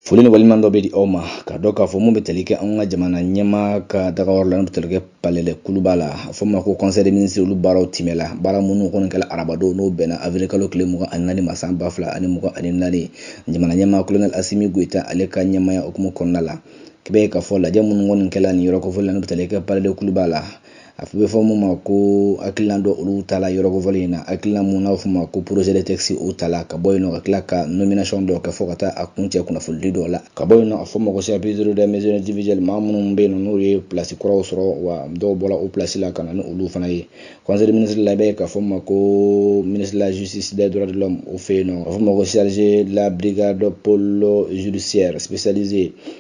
Foli ni waleɲumandɔn bɛ di aw ma ka dɔn k'a fɔ mun bɛ tali kɛ an ka jamana ɲɛmaa ka dagayɔrɔ la n'o bɛ tali kɛ palais de kuluba la a fɔ ma ko conseil des ministres olu baaraw timɛla baara minnu kɔni kɛla arabadon n'o bɛnna avirikalo tile mugan ani naani ma san ba fila ani mugan ani naani jamana ɲɛmaa kolonɛli asimi goyita ale ka ɲɛmaaya hukumu kɔnɔna la k'i b'a ye k'a fɔ lajɛ minnu kɔni kɛla nin yɔrɔ kofɔlen la n'o bɛ tali kɛ palais de kuluba la a bɛ fɔ mun ma ko hakilina dɔ olu tala yɔrɔ kofɔlen in na hakilina mun n'a fɔ ma ko projet de texte o tala ka bɔ yen nɔ ka tila ka nomination dɔ kɛ fɔ ka taa a kuncɛ kunnafonidi dɔw la ka bɔ yen nɔ a fɔ ma ko chapitre des mesures individuelles maa minnu bɛ yen nɔ n'o ye pilasi kuraw sɔrɔ wa dɔw bɔra o pilasi la ka na ni olu fana ye conseil des ministres la i b'a ye k'a fɔ ma ko ministre de la justice des droits de l'homme o fɛ yen nɔ a fɔ ma ko chef de la brigade pôle judiciaire spécialisé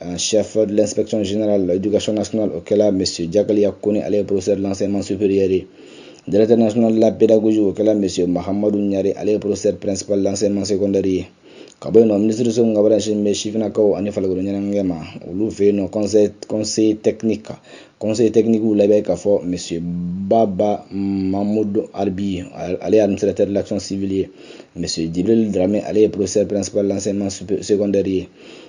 en chef de l'inspection générale de l'éducation nationale o kɛla monsieur Diakalia Kone ale ye professeur de l'enseignement supérieur ye Directeur national de la pédagogie o kɛla monsieur Mahamadou Niare ale ye professeur principal de l'enseignement secondaire. ka bɔ yen nɔ minisiriso min ka baara ɲɛsinnen bɛ sifinnakaw ani farikolo ɲɛnajɛ ma olu fɛ yen nɔ conseil conseil technique kan conseil technique la i b'a ye k'a fɔ monsieur baba mamudu arbi ale ye administrateur de l'action civile ye monsieur jibril drame ale ye professeur principal de l'enseignement secondaire ye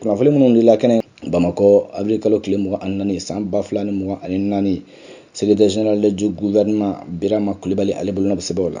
kunnafoni minnu dila kɛnɛ bamakɔ avril kalo tile mugan ani naani san ba fila ni mugan ani naani secrétaire général du gouvernement birama kulibali ale bolonɔ bɛ sɛbɛnw la